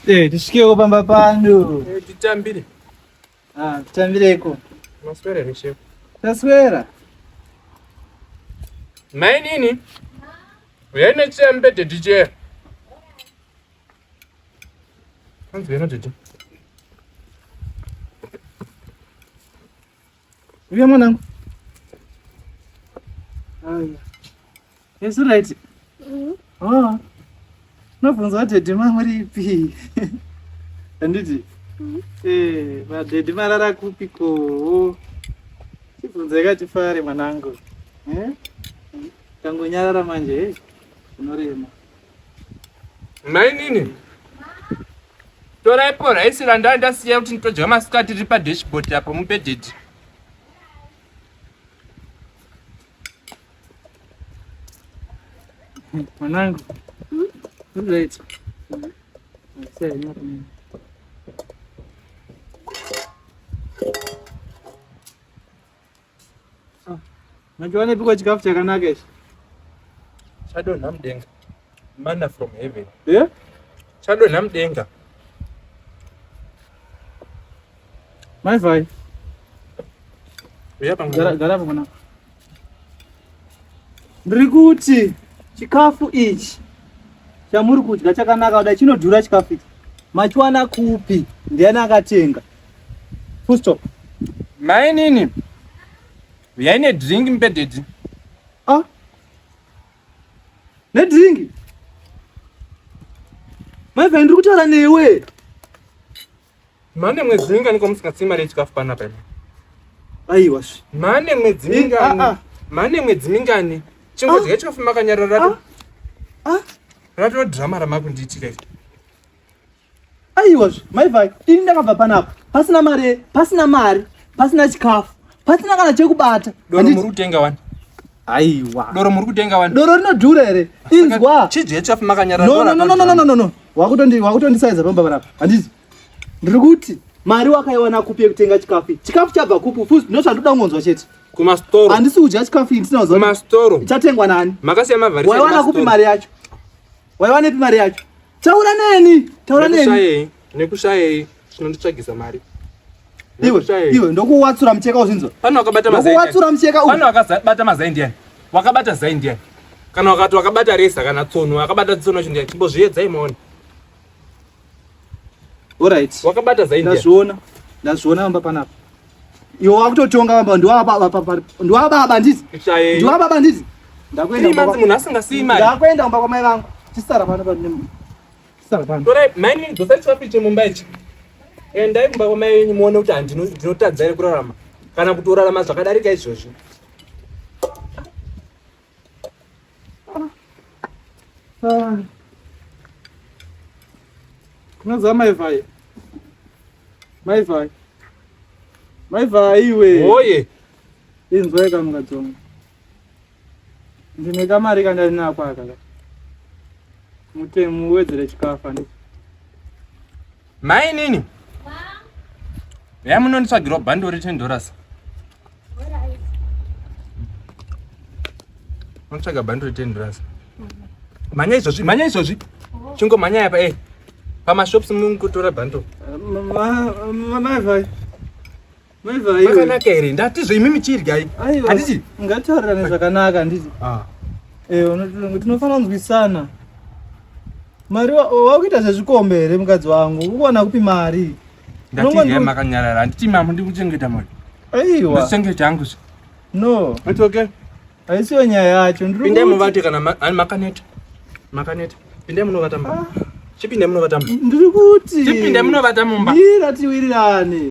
Eh, tisvikeko pamba pano. Eh, titambire. Ah, titambireko. Maswera here shefu? Taswera. Mai nini? Uyai necheya mubhedhe ticheya. Hanzi wena tete. Uya mwanangu. Aya. Yes right. Mhm. Oh. Nobvunza kuti daddy mangu ripi? Handiti? Mhm. Eh, madaddy marara kupi ko? Chibvunza yakati fare mwanangu. Eh? Mhm. Kangonyarara manje, eh? Unorema. mainini toraipo raisi randanga ndasiya kuti nditodya masikati riri padashboard apo mubedhedhi mwanangu unoita Ah, manje wanepikwa chikafu chakanaka ichi chadonha mudenga manna from heaven yeah? chadonha mudenga mai vhai garapo mwana ndiri kuti chikafu ichi chamuri kudya chakanaka kudai chinodhura chikafu ichi machiwana kupi ndiani akatenga Full stop. Mainini. Uyai ne drink mpedhedhi. Ah. Ne drink. Mai vhayi ndiri kutaura newe. Mane mwedzi mingani ko musingatsi mari yechikafu pana pena. Aiwa svi. Mane mwedzi eh, mingani. Ah, ah. Mane mwedzi mingani. Chingodya ah. chikafu makanyarara. Ah. Ah. Rato drama ramakundiitira iri. aiwa maivai ini ndakabva panapa pasina mari pasina mari pasina chikafu pasina kana chekubata doro muri kutenga wani aiwa doro muri kutenga wani doro rinodhura here inzwa chidye chafu makanyara nonononononono wakutondisaidza pamba panapa handiti ndiri kuti mari wakaiwana kupi yekutenga chikafu chikafu chabva kupi fus ndo zvandoda kungonzwa chete kumastoro handisi kudya chikafu ndisinakumastoro chatengwa nani makasiya mavharisaiwana kupi mari yacho waiwanepi mari yacho Taura neni, taura neni. Nekushayei, nekushayei, chinonditsvagisa mari. Iwe, iwe, ndokuwatsura mcheka uzinzo. Pano wakabata mazai. Ndokuwatsura mcheka uyu. Pano wakabata mazai ndiani? Wakabata zai ndiani? Kana wakati wakabata resa kana tsono, wakabata tsono chindiani? Chimbo zviyedzai maone. All right. Wakabata zai ndiani? Ndazviona. Ndazviona amba panapa. Iwe wakutotonga baba ndiwababa ndiwababa ndizi. Ndiwababa ndizi. Ndakuenda kumba. Imanzi munhu asingasiyi mari. Ndakuenda kumba kwamai vangu. Chisara pano pano nemu. Chisara pano. Torai mine dzosa chipapiche mumba ichi. Endai kumba kwamai yenyu muone kuti handino ndinotadza here kurarama kana kutorarama zvakadarika izvozvi. Ah. Unazaa maivai. Maivai. Maivai iwe. Oye. Inzwa kama kadzonga. Ndine kamari kandari nako aka. Mutemu wedzere chikafu andi. Mai nini? Ma. Yamunonditsvagirwa bhandori 10 dollars. unotsvaga bhandi retenhi rasa mhanya izvozvi mhanya izvozvi chingomhanya yapa e pamashops mukutora bhando maivaiakanaka here ndatizvo imi michiryai handiti ngatitaurirane zvakanaka handiti ah. eh, tinofanira kunzwisana mari wakuita zvezvikombe here mukadzi wangu ukuwana kupi mari Ndatiziva makanyarara handiti mama ndikuchengeta mwana. Aiwa. Ndikuchengeta hangu. No. It's okay. Haisiyo nyaya yacho. Ndiri Pindai muvate kana makaneta. Makaneta. Pindai munovata mama. Ah. Chipindai munovata mama. Ndiri kuti. Chipindai munovata mumba. Ndira tiwirirane.